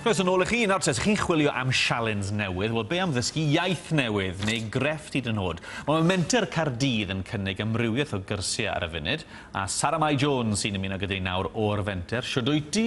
Croeso nôl i chi, nawr te, ydych chi'n chwilio am sialens newydd, wel be am ddysgu iaith newydd, neu grefft i dyn hod? Mae Menter Cardydd yn cynnig amrywiaeth o gyrsiau ar y funud, a Sara Mai Jones sy'n ymuno gyda ni nawr o'r Fenter. Siwr dwyt ti?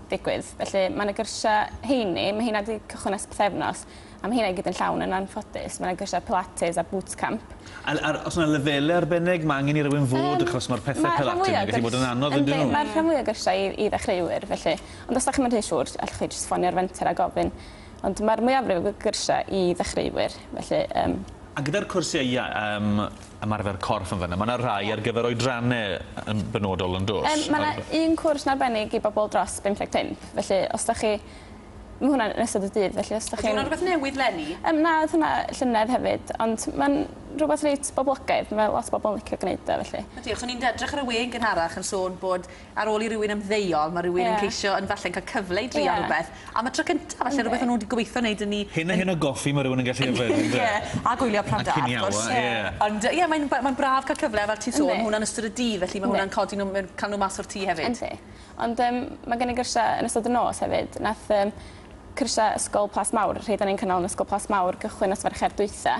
digwydd. Felly mae 'na gyrsia heini ma' heina 'di cychwyn ers pythefnos a ma' heina i gyd yn llawn yn anffodus. Ma' 'na gyrsia pilates a boots camp. A l- a'r o's 'na lefele arbennig ma' angen i rywun fod... Yym. ...achos ma'r pethe pilates... Ma' rhan fwya o gyrs-... ...wedi bod yn anodd yndy nhw? Yndi ma'r rhan fwya o gyrsia i i ddechreuwyr felly ond os 'dach chi'm yn rhy siŵr allwch chi jyst ffonio'r fenter a gofyn. Ond mae'r mwyafrif o gyrsiau i ddechreuwyr, felly yym. A gyda'r cwrsiau i yym ymarfer corff yn fan'na, mae 'na rhai ar gyfer oedranne yn benodol yn does? Yym mae 'na un cwrs yn arbennig i bobl dros 55, felly os 'dach chi... Ma' hwnna yn ystod y dydd felly os 'dach chi'n... Ydi hwnna'n rwbeth newydd 'leni? Yym na o'dd hwnna llynedd hefyd ond ma'n rwbeth reit boblogaidd ma' lot o bobol yn licio gneud o felly. Ydi achos o'n i'n edrych ar y we yn gynharach yn sôn bod ar ôl i rywun ymddeol ma' rywun... Ie. ...yn ceisio yn falle'n ca'l cyfle i drio... Ie. ...rwbeth am y tro cynta falle rwbeth o'n nw 'di gobeithio neud yn 'u Hyn a hyn o goffi ma' rywun yn gallu yfed on'd e? Ie a gwylio Prada wrth gwrs. A cinio a ie. Ie. Ond yy ie mae'n b- mae'n braf ca'l cyfle a fel ti'n sôn... Yndi. ...ma' hwnna'n ystod y dydd felly ma' hwnna'n codi n'w mewn ca'l n'w mas o'r tŷ hefyd. Yndi. Ond yym ma' gen i gyrsie yn ystod y nos hefyd nath yym cyrsie ysgol Plas Mawr rhei 'da ni'n cynnal yn ysgol Plas Mawr gychwyn nos Fercher dwytha.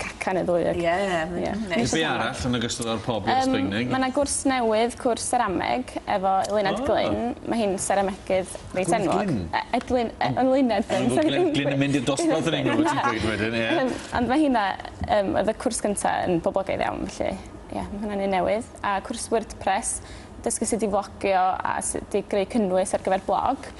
Cacan y ddwy ag... Ie mae'n neis. Ie. Neu be' arall yn ogystal â'r pob i'r Sbaeneg? Yym ma' 'na gwrs newydd cwrs serameg efo Eluned Glyn. O! Ma' hi'n seramegydd reit enwog. Glyn Glyn? E- Edlyn e- Eluned Glyn sori ddim... Glyn Glyn yn mynd i'r dosbarth yn unig fel ti'n gweud wedyn ie. Yym ond ma' hynna yym o'dd y cwrs gynta yn boblogaidd iawn felly ie ma' hwnna'n un newydd. A cwrs wordpress dysgu sut i flogio a sut i greu cynnwys ar gyfer blog.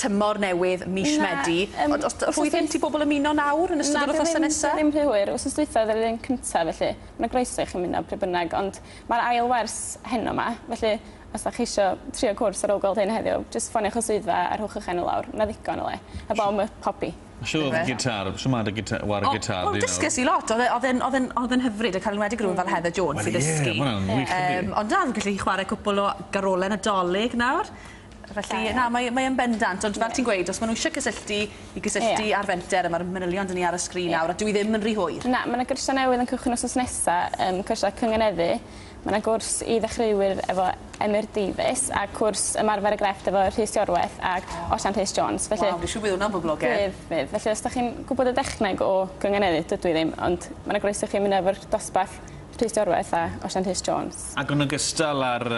tymor newydd mis Medi. Na yym. Ond os d- os oes gen ti bobol ymuno nawr yn ystod yr wythnose nesa? Na ddim ddim rhy hwyr wsos dwytha o'dd yr un cynta felly ma' groeso i chi ymuno pryd bynnag ond ma'r ail wers heno 'ma felly os 'dach chi isio trio cwrs ar ôl gweld hyn heddiw jyst ffonioch y swyddfa a rhowch 'ych enw lawr ma' 'na ddigon o le heb ofn ma' pobi. Shwd o'dd gitar shwmai dy gita- ware gitar di nawr? O wel dysges i lot o'dd e o'dd e'n o'dd e'n o'dd e'n hyfryd ac yn enwedig rywun fel Heather Jones i ddysgu. Wel ie ma' wnna'n wych yndi? Yym ond na fi'n gallu chware cwpwl o garole Nadolig nawr. Felly na mae mae yn bendant ond fel ti'n gweud os ma' n'w isie cysylltu i gysylltu ar fenter a ma'r manylion 'da ni ar y sgrin nawr a dyw 'i ddim yn rhy hwyr. Na ma' 'na gyrsia newydd yn cychwyn wsos nesa yym cyrsia cynganeddu ma' 'na gwrs i ddechreuwyr efo Emyr Davies a cwrs ymarfer y grefft efo Rhys Iorwerth ag Osian Rhys Jones felly... Waw dwi siŵr bydd wnna'n boblogedd. Bydd bydd felly os 'dach chi'n gwbod y dechneg o gynganeddu dydw i ddim ond ma' 'na groeso i chi ymuno efo'r dosbarth Rhys Dorweth a Osian Rhys Jones. Ac yn ogystal â'r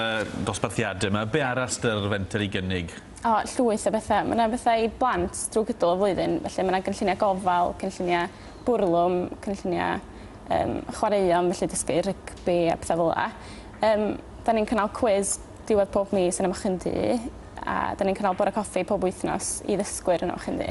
dosbarthiadau yma, be arall sy'da'r fenter i gynnig? O, llwyth o bethau. Mae yna bethau i blant drwy gydol y flwyddyn, felly mae yna gynlluniau gofal, cynlluniau bwrlwm, cynlluniau um, chwaraeon, felly dysgu rygbi a pethau fel yna. Um, da ni'n cynnal cwiz diwedd pob mis yn Ymwch Ddu, a da ni'n cynnal bore coffi pob wythnos i ddysgwyr yn Ymwch Ddu.